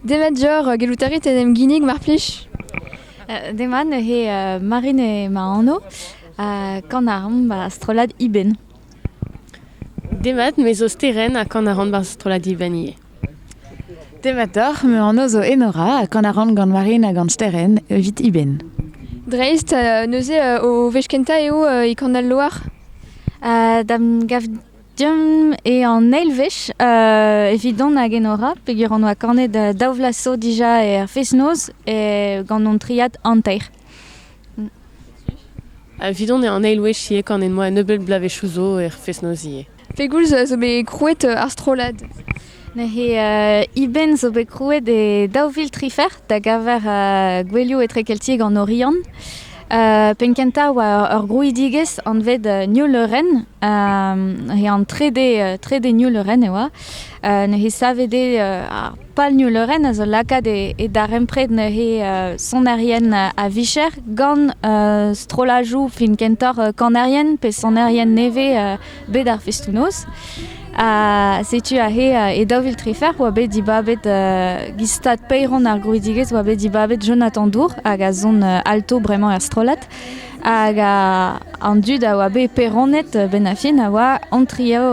Demat dioc'h, gellout a rit en em ginnig, mar plij Demat neuze Marine eo ma anv, ha kan a ran ba strollad Ibenn. Demat, me zo Sterenn ha kan a ran ba strollad Ibenn ivez. Demat deoc'h, ma anv zo Enora ha kan a ran gant Marine ha gant Sterenn evit Ibenn. Dreist, neuze o wech kentañ eo e kan al loar. Da'm gav Deomp eo an eil wech uh, evidon hag Enora peger hon oa kanet uh, daou vlas so dija er fest-noz e, gant hon triad hanter. Evidon eo an eil wech ivez kanet moa un nebeut bloavezhioù zo er fest-noz ivez. Pegoulz zo bet krouet ar strollad Neuze Iben zo bet krouet e daou vil trifer da geñver gouelioù etrekeltiek an Oriant. penn-kentañ oa ur grouidigezh anvet New Leuren. he an trede, trede New Leuren e oa. neuze savet eo ar pal New Leuren a zo lakaat e darempred neuze sonerien a-vicher gant strollajoù film kentoc'h kanerien pe sonerien nevez bet ar festoù-noz. Ha setu aze e daou vil trefer oa bet dibabet gant stad paeron ar grouidigezh oa bet dibabet Jonathan Dour hag a zon alto bremañ er strollad. Hag an dud a oa bet peronet benn a fin a oa an trio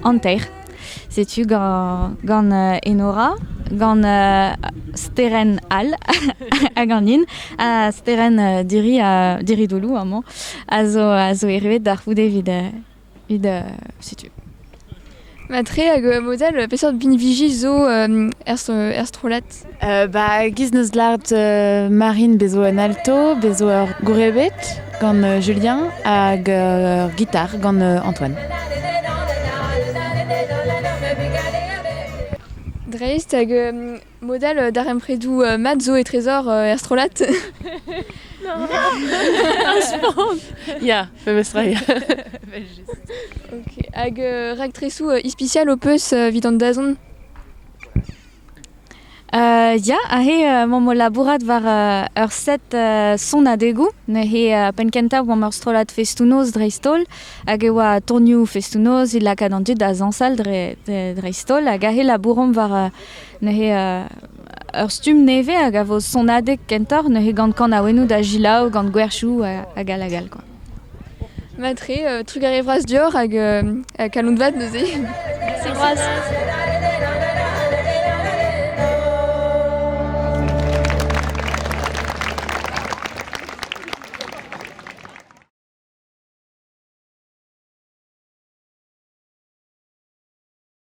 an teir. Setu gant, gant Enora, gant Sterenn all ha ganin. Ha Sterenn Diri ha Diri Doulou amañ a zo, a zo erruet d'ar c'houde evit, evit setu. Matre hag model peseurt binviji zo er, er strollad? Ba giz neus dleet Marine bezo un alto, bezo ur gourebed gant Julien hag ur gitar gant Antoine. Dreist hag model darempredoù mat zo e trezor er strollad Ya, famous ray. Ok, hag raktresoù ispicial ho peus evit an dazont Ya, aze emaomp o labourat war ur set sonadegoù. Neuze penn-kentañ oamp ur strollad festoù-noz dreist-holl hag e oa tournioù festoù-noz evit lakaat an dud da zañsal dreist-holl hag aze labouromp war neuze ur stumm nevez hag a vo sonadeg kentoc'h neuze gant kanaouennoù da selaou, gant gwerchoù hag all hag all. Matre, trugarez vras dioc'h hag kaloun vat neuze. Merci Groaz.